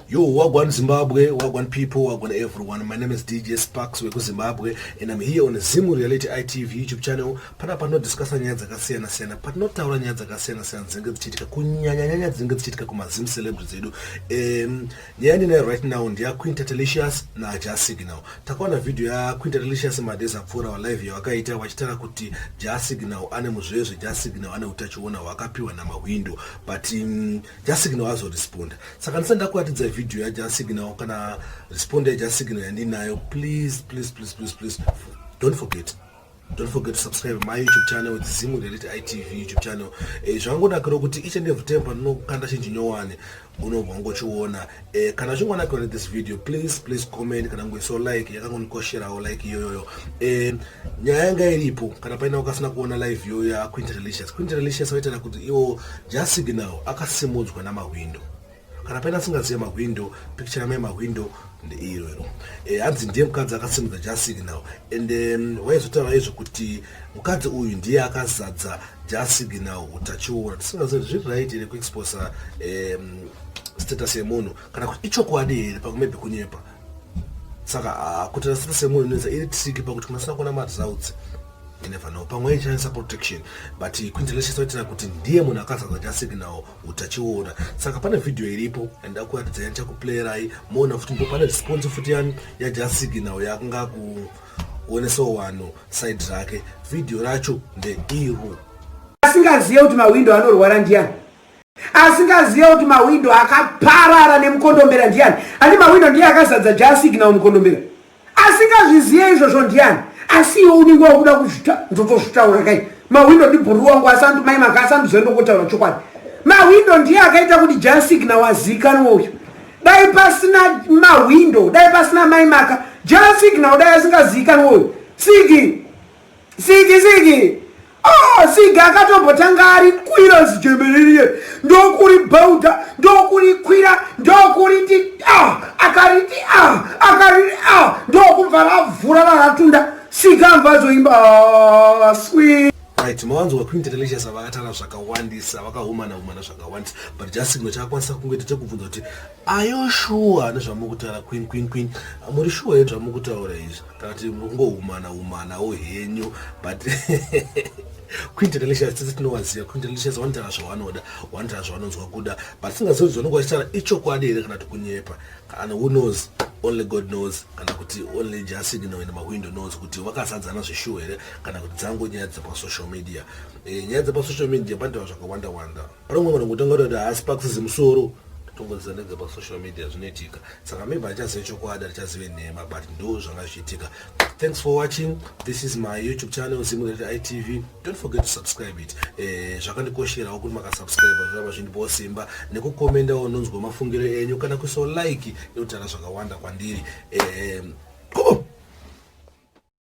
Yo, Wagwan Zimbabwe, Wagwan people, Wagwan everyone. My name is DJ Sparks Weku Zimbabwe and I'm here on Zimu Reality ITV YouTube channel. Pana pano discuss nyaya dzakasiyana siyana, pano taura nyaya dzakasiyana siyana dzinenge dzichiitika kunyanya nyanya dzinenge dzichiitika kuma Zim celebrities edu. Um, nyaya ndinayo right now ndiya Queen Tatelicious na Jah Signal. Takaona video ya Queen Tatelicious madays apfuura wa live yavakaita vachitaura kuti Jah Signal ane muzvezve, Jah Signal ane utachiona hwakapiwa na mahwindo. But um, jasignal azoresponda saka ndisati ndakuratidza vhidhiyo yajasignal kana responda yajasignal yandinayo please please please please please don't forget don't forget to subscribe my youtube channel with zimu reality itv youtube channel eh, zvangonakira kuti each and every time pandinokanda chinji nyowani unobva ngochiona Eh, kana uchingonakirwa nethis video please please comment kana kungoisawo like yakangondikosherawo like iyoyoyo eh, nyaya yanga iripo kana paina ukasina kuona live iyoyo yaquint relicious quint relicious vaitaira kuti iwo just signal akasimudzwa namahwindo kana paina asingazive mahwindo picture yamai mahwindo ndeiro iro eh, hanzi ndiye mukadzi akasimudza just signal and um, waizotaura izvo kuti Mukadzi uyu ndiye akazadza jasignal hutachiona tisingazivi zviri right here kuexposa um, status yemunhu kana kuti ichokwadi here pamwe maybe kunyepa saka ah, kuti na status yemunhu inoedza iri triki pakuti kunasina kuona maresults inevano pamwe aishandisa protection but quintelation saitira kuti ndiye munhu akazadza jasignal hutachiona saka pane vhidhiyo iripo and akuratidza yani chakuplayerai moona futi ndipo pane response futi yani yajasignal yakanga ku one so wano side rake video racho ndeiro asingazive kuti mahwindo anorwara ndiyani asingazive kuti mahwindo akaparara nemukondombera ndiyani ani mahwindo ndiye akazadza jasignal mukondombera asingazvizive izvozvo ndiyani asi iwe unenge wakuda kuzvita ndotozvitaura kai mahwindo ndibhuru wangu asandu mai maka asanduzoenda kotaura chokwadi mahwindo ndiye akaita kuti jasignal azikanwe uyu dai pasina mahwindo dai pasina mai maka jaa siki nao dai asingaziikanwa uyu siki siki siki oh siki akatombotanga ari kwira zijemeririye ndokuri bhauda ndokuri kwira ndokuriti ah akariti ah akariti ah ndokubva ravhura raratunda siki ambazoimba ah, sweet right mawanzwa queen delicious vakatara zvakawandisa vakahumana humana zvakawandisa but just chimwe chakakwanisa kungoita chekubvunza kuti ayo shuwa nezvamuri kutaura queen queen queen muri shuwa here zvamuri kutaura izvi kana kuti ngohumana humanawo henyu but queen delicious tese tinovaziva queen delicious vanotaura zvavanoda vanotaura zvavanonzwa kuda but singazivi zvanonga vachitaura ichokwadi here kana kuti kunyepa and who knows only god knows kana kuti only jasignal in mawindow knows kuti vakazadzana zveshuwo here kana kuti dzango nyaya dzepasocial media e, nyaya dzepasocial media pandiwa zvakawanda wanda panomwe vanhu kutanga kuti haasi pakusizi musoro tongodzidza nedzepasocial media zvinoitika saka maybe achazive chokwadi achazive nhema but ndo zvanga zvichiitika Thanks for watching. This is my YouTube channel Zimulete ITV. Don't forget to subscribe it. Eh zvakandikoshera kuti maka subscribe zviramba zvindipo simba nekukomenda ononzwa mafungiro enyu kana kuso like inotara zvakawanda kwandiri. Eh